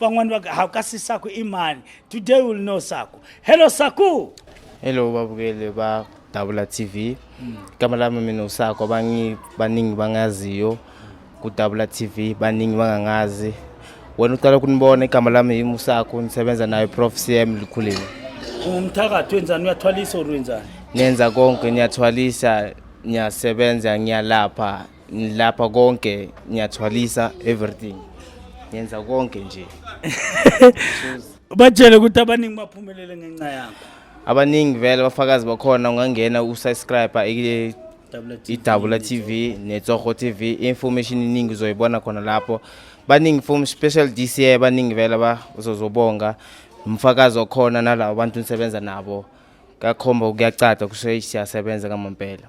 van'wani va ha kasi saku i mani today will know saku hello saku hello vavukeli va davula tv mm. kama lami mina usako abangi baningi bangaziyo kudavula tv baningi bangangazi wena uqala kunibona igama lami yimi usako nisebenza nayo prof cm likhulile umthakathi wenzani uyathwalisa or wenzani nenza konke niyathwalisa ngiyasebenza ngiyalapha ngilapha konke ngiyathwalisa everything ngenza konke nje batshele ukuthi abaningi baphumelele ngenxa yakho abaningi vele abafakazi bakhona ungangena usubscribe idabula tv netsoho tv information iningi uzoyibona khona lapho baningi from special dca baningi vele bazozobonga umfakazi okhona nalabo bantu nisebenza nabo kakhomba kuyacaca kusho siyasebenza ngamampela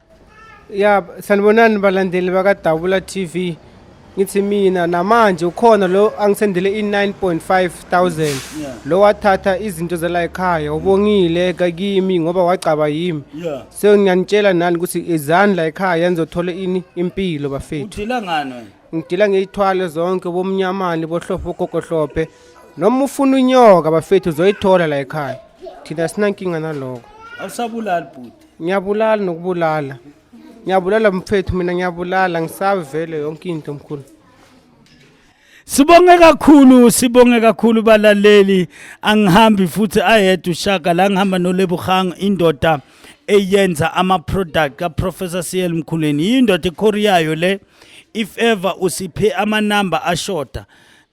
ya sanibonani balandeli bakadabula TV ngithi mina namanje ukhona lo angisendele i-9.5000 Yeah. lo wathatha izinto zala ekhaya ubongile kakimi ngoba wagcaba yimi Yeah. so ngiyanitshela nani ukuthi izani la ekhaya nizothola ini impilo bafethu Udila ngani wena? ngidila ngeyithwale zonke bomnyamane bohlophe bogogohlophe noma ufuna unyoka bafethu uzoyithola la ekhaya thina sinankinga naloko Awusabulali bhuti. ngiyabulala nokubulala ngiyabulala mfethu mina ngiyabulala ngisabe vele yonke into mkhulu Sibonge kakhulu sibonge kakhulu balaleli angihambi futhi ayedwa ushaka la ngihamba noLebugang indoda eyenza ama product ka Professor CL Mkhuleni yindoda ekhoriyayo le if ever usiphe ama number ashoda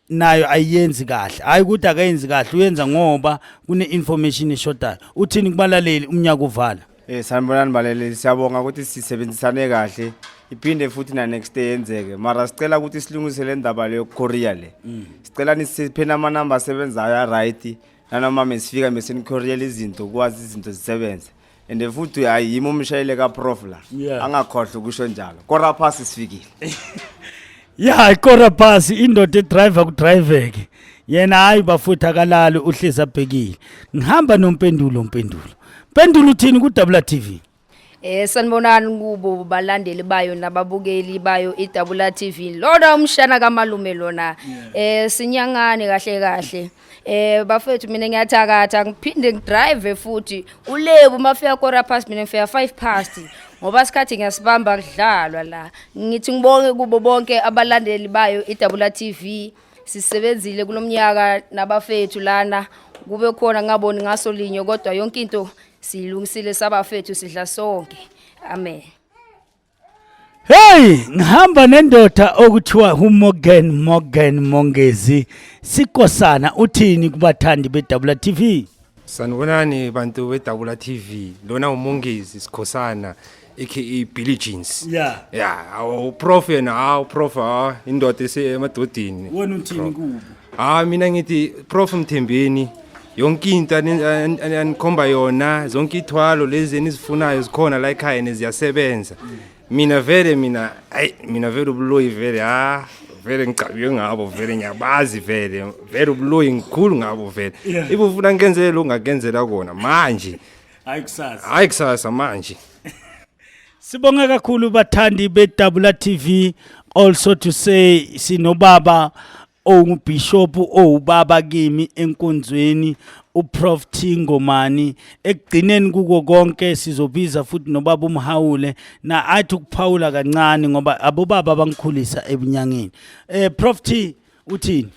nayo ayiyenzi kahle hayi ukuthi akayenzi kahle uyenza ngoba kune-information eshodayo uthini kubalaleli umnyaka uvala Eh sanibonani baleleli siyabonga ukuthi sisebenzisane kahle iphinde futhi na next day yenzeke mara sicela ukuthi silungise le ndaba leyo Korea le mm. sicela nisiphena ama number asebenzayo right nanoma mesifika mesenikoreela izinto kwazi izinto zisebenze and futhi hayi yimi umshayele kaprof la Yeah. angakhohlwa ukusho njalo kora phasi sifikile ya ikora phasi indoda edriver kudriveke yena hayi bafuthi akalali uhlezi abhekile ngihamba nompendulo mpendulo mpendulo uthini kudabula tv Eh sanibonani kubo balandeli bayo nababukeli bayo iDabula TV. Lona umshana kamalume lona. Eh sinyangane kahle kahle. Eh bafethu mina ngiyathakatha ngiphinde ngidrive futhi ulebu mafika quarter past mina ngifika 5 past ngoba sikhathi ngiyasibamba kudlalwa la ngithi ngibonge kubo bonke abalandeli bayo iDabula TV sisebenzile kulomnyaka nabafethu lana kube khona ngaboni ngaso linye kodwa yonke into siyilungisile sabafethu sidla sonke amen Hey, ngihamba nendoda okuthiwa uMorgan Morgan Mongezi sikosana uthini kubathandi beDabula TV? Sanibonani bantu beDabula TV. Lona uMongezi sikhosana aka Billy Jeans. Yeah. Yeah, awu prof yena, awu prof, ah, indoda esemadodini. Wena uthini kubo? Ah mina ngithi prof Mthembeni yonke into anikhomba yona zonke ithwalo lezi enizifunayo zikhona la ekhaya neziyasebenza mina vele mina ayi mina vele ubuloyi vele ha vele ngicabiwe ngabo vele ngiyabazi vele vele ubuloyi ngikhulu ngabo vele ibe ufuna ngenzele ongakenzela kona manje hayi kusasa hayi kusasa manje Sibonga kakhulu bathandi beDabula TV also to say sinobaba owubishop owubaba kimi enkonzweni uProf Thingomani ekugcineni kuko konke sizobiza futhi nobaba umhawule na athi ukuphawula kancane ngoba abobaba abangikhulisa ebunyangeni eh Prof T uthini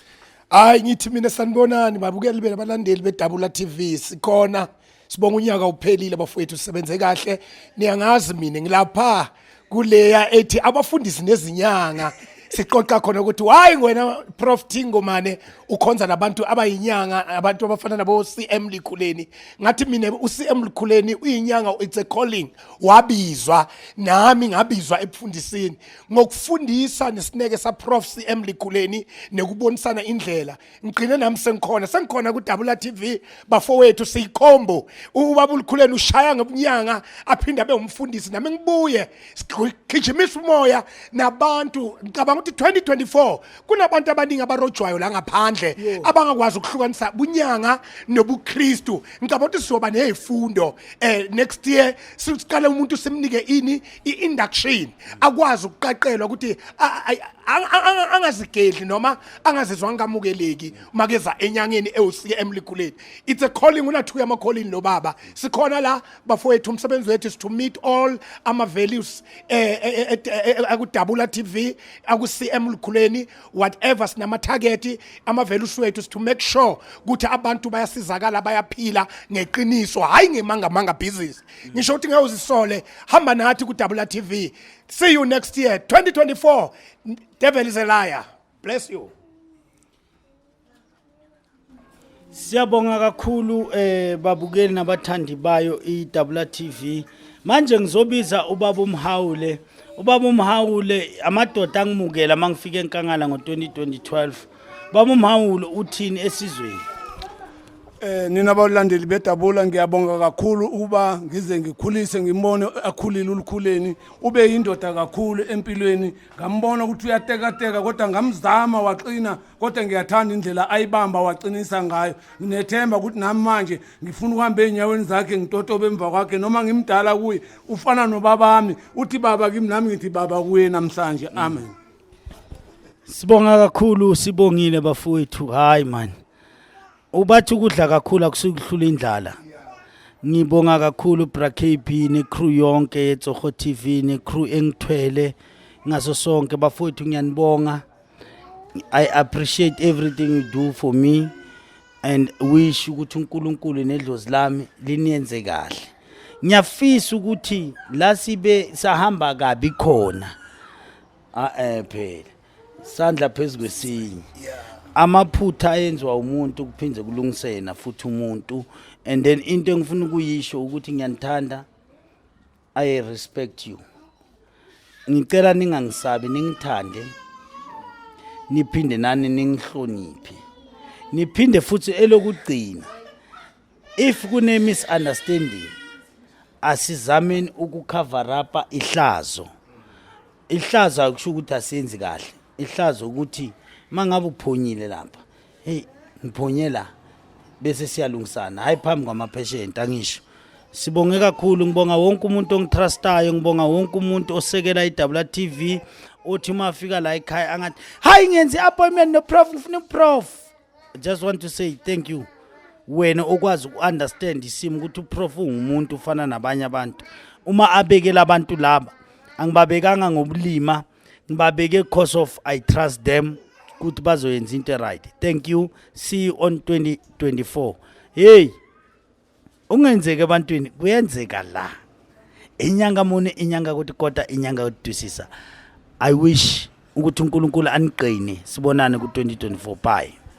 hayi ngithi mina sanibonani babukeli bena balandeli bedabula TV sikhona sibonga unyaka uphelile bafowethu sisebenze kahle niyangazi mina ngilapha kuleya ethi abafundisi nezinyanga siqoqa khona ukuthi hayi wena prof Thingomane ukhonza nabantu abayinyanga abantu abafana nabo CM Likhuleni ngathi mina u CM Likhuleni uyinyanga it's a calling wabizwa nami ngabizwa ebufundisini ngokufundisa nesineke saprof cm likhuleni nekubonisana indlela ngigcine nami sengikhona sengikhona kudabula tv bafowethu siyikhombo ubaba ulikhuleni ushaya ngobunyanga aphinde abe umfundisi nami ngibuye sigijimisa umoya nabantu ngicabanga ukuthi 2024 kunabantu abaningi abarojwayo la ngaphandle abangakwazi ukuhlukanisa bunyanga nobukristu ngicabanga ukuthi sizoba nezifundo eh next year siqale umuntu simnike ini i-induction akwazi ukuqaqelwa ukuthi angazigedli noma angazizwa ngamukeleki makeza enyangeni ewusike emlikuleni it's a calling unathuya ama calling lo baba sikhona la bafowethu umsebenzi wethu is to meet all ama values eh, eh, eh, akudabula TV aku CM likuleni whatever sinama target ama values wethu is to make sure ukuthi abantu bayasizakala bayaphila ngeqiniso hayi ngemanga manga business ngisho ukuthi ngeke uzisole hamba nathi kudabula tv see you next year 2024 devil is a liar bless you Siyabonga kakhulu eh babukeli nabathandi bayo iDabula TV. Manje ngizobiza ubaba uMhawule. Ubaba uMhawule amadoda angimukela mangifika eNkangala ngo2012. Baba uMhawulo uthini esizweni? Eh nina balandeli bedabula ngiyabonga kakhulu ukuba ngize ngikhulise ngimone akhulile ulukhuleni ube yindoda kakhulu empilweni ngambona ukuthi uyatekateka kodwa ngamzama waqina kodwa ngiyathanda indlela ayibamba waqinisa ngayo nginethemba ukuthi nami manje ngifuna ukuhamba enyaweni zakhe ngitotobe emva kwakhe noma ngimdala kuye ufana nobabami uthi baba kimi nami ngithi baba kuye namhlanje amen mm. Sibonga kakhulu sibongile bafowethu hayi man. Ubathi ukudla kakhulu akusukuhlula indlala. Ngibonga kakhulu Bra KB ne crew yonke yeTsogo TV ne crew engithwele ngaso sonke bafowethu ngiyanibonga. I appreciate everything you do for me and wish ukuthi uNkulunkulu nedlozi lami liniyenze kahle. Ngiyafisa ukuthi la sibe sahamba kabi khona. ah eh phela sandla phezu kwesinye amaphutha ayenziwa umuntu kuphinde kulungisena futhi umuntu and then into engifuna ukuyisho ukuthi ngiyanithanda i respect you ngicela ningangisabi ningithande niphinde nani ningihloniphe niphinde futhi elokugcina if kune misunderstanding asizameni ukucover up ihlazo ihlazo akusho ukuthi asenzi kahle ihlazo ukuthi mangabe uphonyile lapha hey ngiphonyela bese siyalungisana hayi phambi kwamapheshenti angisho sibonge kakhulu ngibonga wonke umuntu ongitrustayo ngibonga wonke umuntu osekela i-WTV othi uma afika la ekhaya angathi hayi ngenzi appointment noprof ngifuna uprof I just want to say thank you wena okwazi uku-understand isimo ukuthi uprof ungumuntu ufana nabanye abantu uma abekela abantu laba angibabekanga ngobulima ngibabeke cause of i trust them ukuthi bazoyenza into eright thank you see you on 2024 hey ungenzeki ebantwini kuyenzeka la inyanga muni inyanga ukuthi kodwa inyanga yokudusisa i wish ukuthi unkulunkulu aniqine sibonane ku-2024 bye